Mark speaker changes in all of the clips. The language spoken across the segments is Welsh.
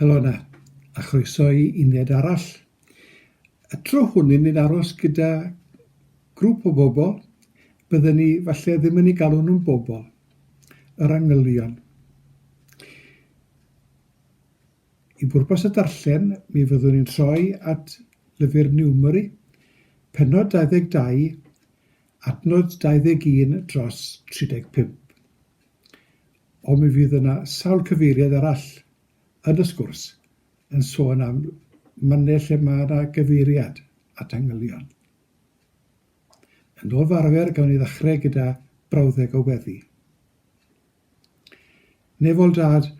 Speaker 1: Helo yna, a chroeso i uned arall. Y tro hwn yn ni'n aros gyda grŵp o bobl, bydden ni falle ddim yn ei galw nhw'n bobl, yr angylion. I bwrpas y darllen, mi fyddwn ni'n troi at lyfr Niwmeri, pennod 22, adnod 21 dros 35. Ond mi fydd yna sawl cyfeiriad arall yn y sgwrs yn sôn am mannau lle mae yna gyfeiriad at angylion. Yn ôl fy arfer, gawn ni ddechrau gyda brawddeg o weddi. Nefol Dad,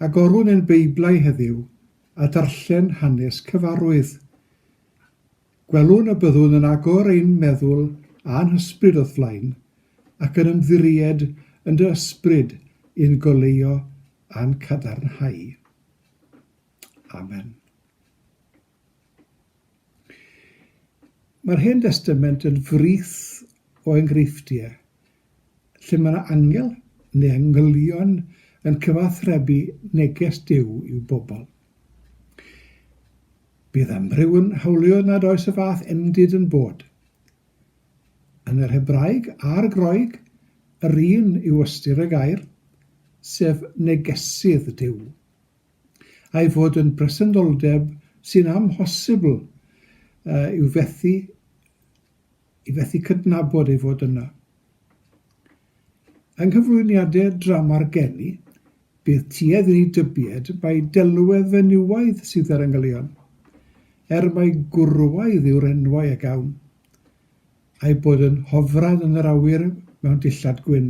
Speaker 1: agorwn ein Beiblau heddiw a darllen hanes cyfarwydd. Gwelwn y byddwn yn agor ein meddwl a'n hysbryd o'th flaen, ac yn ymddiried yn dy ysbryd i'n goleuo a'n cadarnhau. Amen. Mae'r Hen Destament yn frith o enghreifftiau lle mae yna angel neu angylion yn cyfathrebu neges Duw i'w bobl. Bydd amryw yn hawlio nad oes y fath endid yn bod. Yn yr Hebraeg a'r Groeg, yr un yw ystyr y gair, sef negesydd Duw. a'i fod yn bresenoldeb sy'n amhosibl i'w fethu i fethu cydnabod ei fod yna. Yng nghyflwyniadau drama'r geni, bydd tuedd i ni dybied mai delwedd fenywaidd sydd ar yngylion, er mai gwrywaidd yw'r enwau a gawn, a'i bod yn hofran yn yr awyr mewn dillad gwyn.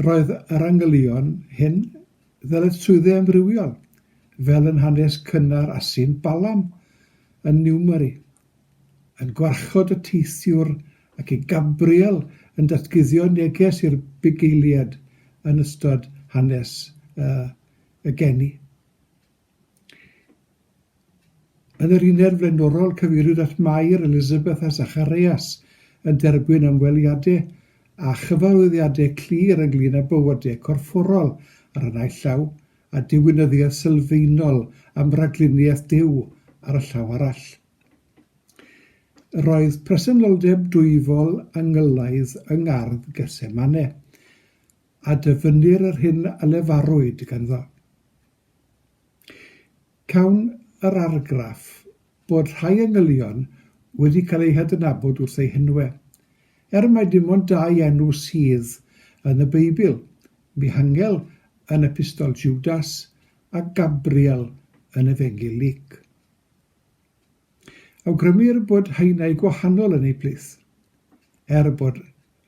Speaker 1: Roedd yr angylion hyn ddyletswyddau amrywiol, fel yn hanes cynnar Asyn Balam yn Newmari, yn gwarchod y teithiwr ac i Gabriel yn datguddio neges i'r bugeiliad yn ystod hanes y geni. Yn yr uned flaenorol, cyfeiriwyd at Mair, Elizabeth a Zacharias yn derbyn ymweliadau a chyfarwyddiadau clir ynglŷn â bywydau corfforol ar y naill llaw a diwinyddiaeth sylfaenol am ragluniaeth Duw ar y llaw arall. Yr oedd presenoldeb dwyfol angylaidd yng ngardd Getsemane, a dyfynnir yr hyn a lefarwyd ganddo. Cawn yr argraff bod rhai engylion wedi cael eu hadnabod wrth eu henwau. Er mai dim ond dau enw sydd yn y Beibl, Mihangel yn Epistol Jwdas a Gabriel yn Efengyl Luc. Awgrymir bod haenau gwahanol yn eu plith, er bod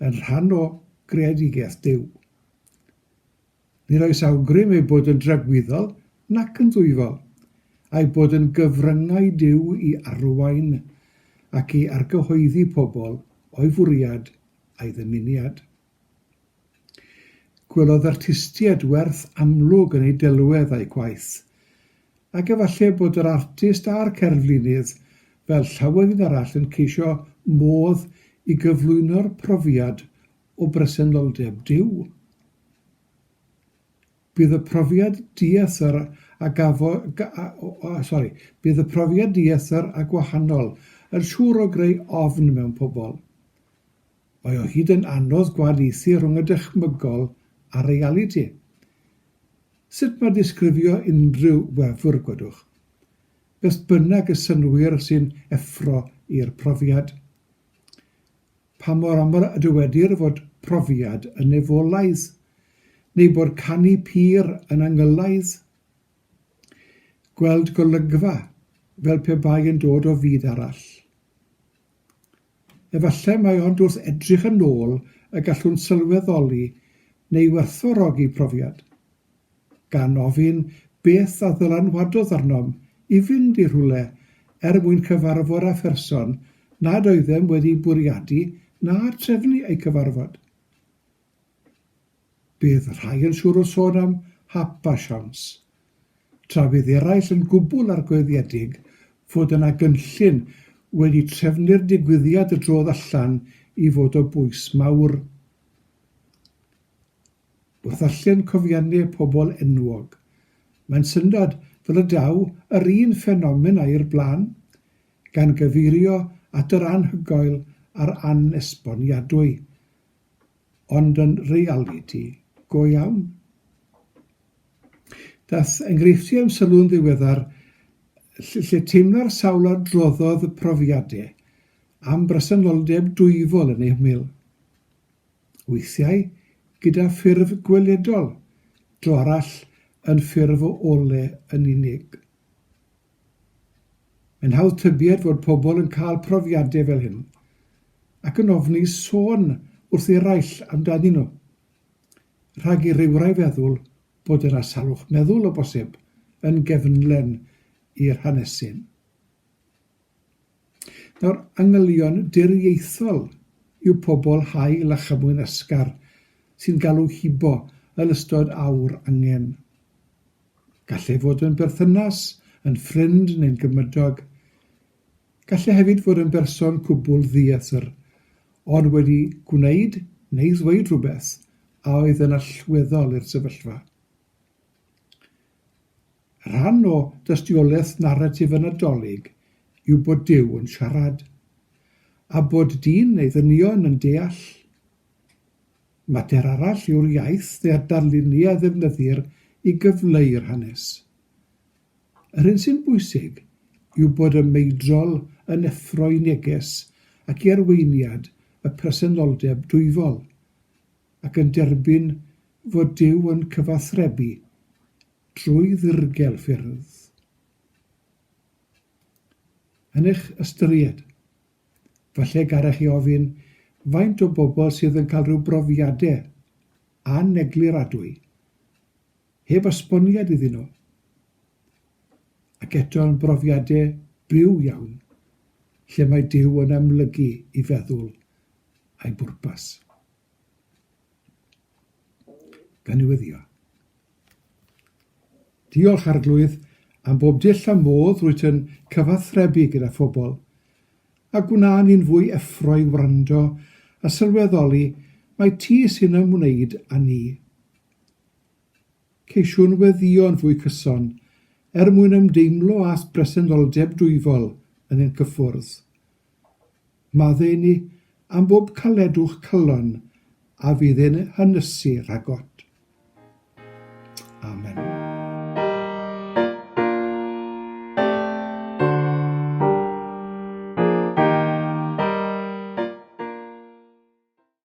Speaker 1: yn rhan o greadigaeth Duw. Nid oes awgrym eu bod yn dragwyddol nac yn ddwyfol, a'u bod yn gyfryngau Duw i arwain ac i argyhoeddi pobl o'i fwriad a'i ddymuniad. Gwelodd artistiaid werth amlwg yn eu delwedd a'u gwaith, ac efallai bod yr artist a'r cerflunydd, fel llawer un arall, yn ceisio modd i gyflwyno'r profiad o bresenoldeb Duw. Bydd y profiad dieithr a gafo, ga, o, o, sorry, bydd y profiad dieithr a gwahanol yn siŵr o greu ofn mewn pobl. Mae o hyd yn anodd gwahaniaethu rhwng y dychmygol a'r realiti. Sut mae disgrifio unrhyw wefr, gwedwch? Beth bynnag y synnwyr sy'n effro i'r profiad. Pa mor aml y dywedir fod profiad yn nefolaidd, neu bod canu pur yn angylaidd? Gweld golygfa, fel pe bai yn dod o fyd arall. Efallai mai ond wrth edrych yn ôl y gallwn sylweddoli neu werthfawrogi profiad. gan ofyn beth a ddylanwadodd arnom i fynd i rhywle er mwyn cyfarfod â pherson nad oeddem wedi bwriadu na trefnu ei cyfarfod. Bydd rhai yn siŵr o sôn am hap a siawns, tra bydd eraill yn gwbl argoediedig fod yna gynllun wedi trefnu'r digwyddiad y drodd allan i fod o bwys mawr. O ddarllen cofiannau pobl enwog, mae'n syndod fel y daw yr un ffenomen â'i'r blaen, gan gyfeirio at yr anhygoel a'r anesboniadwy, ond yn realiti go iawn. Daeth enghreifftiau i'm sylw yn ddiweddar ll- lle teimla'r sawl a droddodd y profiadau am bresenoldeb dwyfol yn eu hymyl. weithiau gyda ffurf gweledol, dro arall yn ffurf o ole yn unig. Mae'n hawdd tybied fod pobl yn cael profiadau fel hyn, ac yn ofni sôn wrth eraill amdanyn nhw, rhag i rywrai feddwl bod yna salwch meddwl, o bosib, yn gefnlen i'r hanesyn. Nawr, angylion diriaethol yw pobl hael a chymwynasgar sy'n galw hibo yn ystod awr angen. Gall e fod yn berthynas, yn ffrind neu'n gymydog. Gall e hefyd fod yn berson cwbl ddiethr, ond wedi gwneud neu ddweud rhywbeth a oedd yn allweddol i'r sefyllfa. Rhan o dystiolaeth naratif y Nadolig yw bod Duw yn siarad, a bod dyn neu ddynion yn deall. Mater arall yw'r iaith neu a darluniau a ddefnyddir i gyfleu'r hanes. Yr hyn sy'n bwysig yw bod y meidrol yn effro i neges ac i arweiniad y presenoldeb dwyfol, ac yn derbyn fod Duw yn cyfathrebu drwy ddirgel ffyrdd yn eich ystyried. Falle garech chi ofyn faint o bobl sydd yn cael rhyw brofiadau anegluradwy heb esboniad iddyn nhw, ac eto yn brofiadau byw iawn lle mae Duw yn amlygu i feddwl a'i bwrpas. gan ei weddïo. Diolch, Arglwydd, am bob dull a modd rwyt yn cyfathrebu gyda phobl, a gwna ni'n fwy effro i wrando a sylweddoli mai ti sy'n ymwneud â ni. Ceisiwn weddïo'n fwy cyson er mwyn ymdeimlo â phresenoldeb dwyfol yn ein cyffwrdd. Maddeuini am bob caledwch calon a fydd yn hynysu rhagot. Amen.